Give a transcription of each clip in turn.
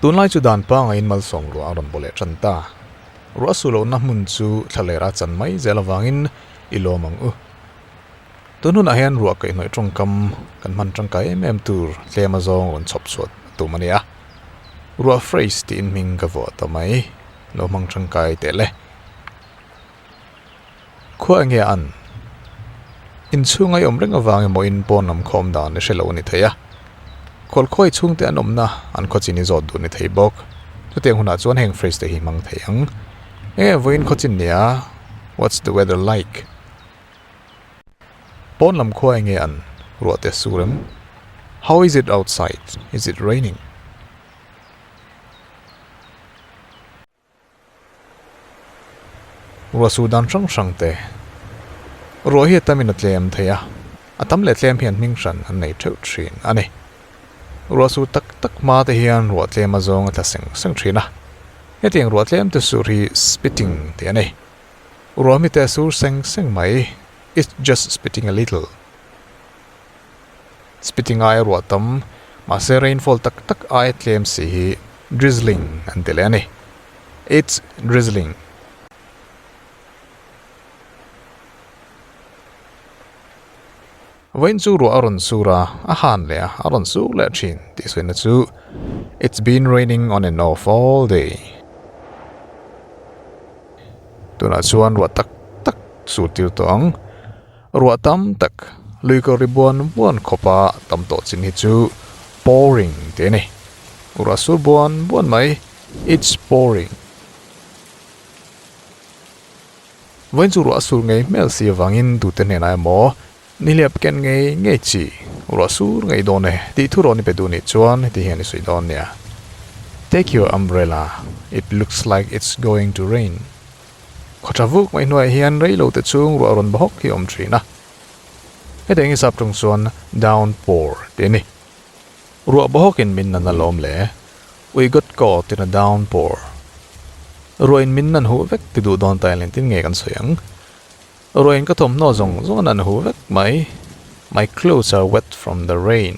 Tunlai chu dan pangaiin malsawm ruah a rawn baw leh tan ta. Ruah suh lohna hmun chu thla ler a chan mai zel avangin i lawm ang u. Tun hunah hian ruah kaihnawih tawngkam kan hman tangkai em em tur tlema zawng rawn chhawp chhuah tum a ni a. Ruah phrase tiin hming ka vuah ta mai. Lo hmang tangkai tehle. Khua enge a an? Inchhunga i awm reng avangin maw in pawn lam khawm dan i hrelo a ni thei a. Kawlkhua i chhungte an awmna an khaw chin i zawt duh ni thei bawk. Chutiang hunah chuan heng phrase te hi hmang thei ang. Enge vawiin khaw chin nia? What's the weather like? Pawn lam khua enge a an? Ruahte sur em? How is it outside? Is it raining? Ruahsû dân hrang hrangte ruah hi a tamin a tlêm thei a, a tam leh tlêm hian hming hran an nei ṭheuh ṭhîn a ni. Ruahsû tak tak hmate hian ruah tlêma zâwng a tla seng seng ṭhîn a, hetiang ruah tlêmte sûr hi spitting tih a ni. Ruah mite a sûr seng seng mai, it's just spitting a little. Spiti ngai a ruah tam, mahse rainfall tak tak aia tlem si hi drizzling an ti leh a ni. It's drizzling. Vawiin chu ruah a rawn sur a, a han leh a, a rawn sur leh thin tih sawiina chu It's been raining on and off all day. Tunah chuan ruah tak tak sur tir tawh ang. Ruah tam tak luikawr ri buan buan khawpa tam tawh chin hi chu pouring tih a ni. Ruah sur buan buan mai it's pouring. Vawiin chu ruah sur ngei hmel si avangin tute hnenah emaw nihliap ken ngei ngei chi ruah sur ngei dawn e tih thu rawh ni pe duh nih chuan heti hian i sawi dawn nia Take your umbrella, it looks like it's going to rain. Khaw tha vuk mai hnuaiah hian reilo te chhung ruah rawn bawhawk hi a awm thin a. Heti eng hisap ṭang chuan downpour tih a ni. Ruah bawhawk in min nan alawm le. We got caught in a downpour. Ruah in min nan huh vek ti duh dawn ta hian tin nge kan sawi ang? Ruah in ka thawmhnaw zawng zawng a nan huh vek mai. My clothes are wet from the rain.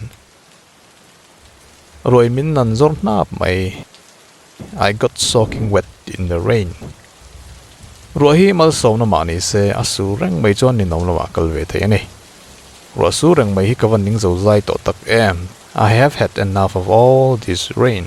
Ruai min nan zawr hnap mai. I got soaking wet in the rain. Ruah hi malsawmna mah ni se, a su reng mai chuan ninawm lamah kal ve thei a ni. Ruah su reng mai hi ka va ning zo zai tawh tak em. I have had enough of all this rain.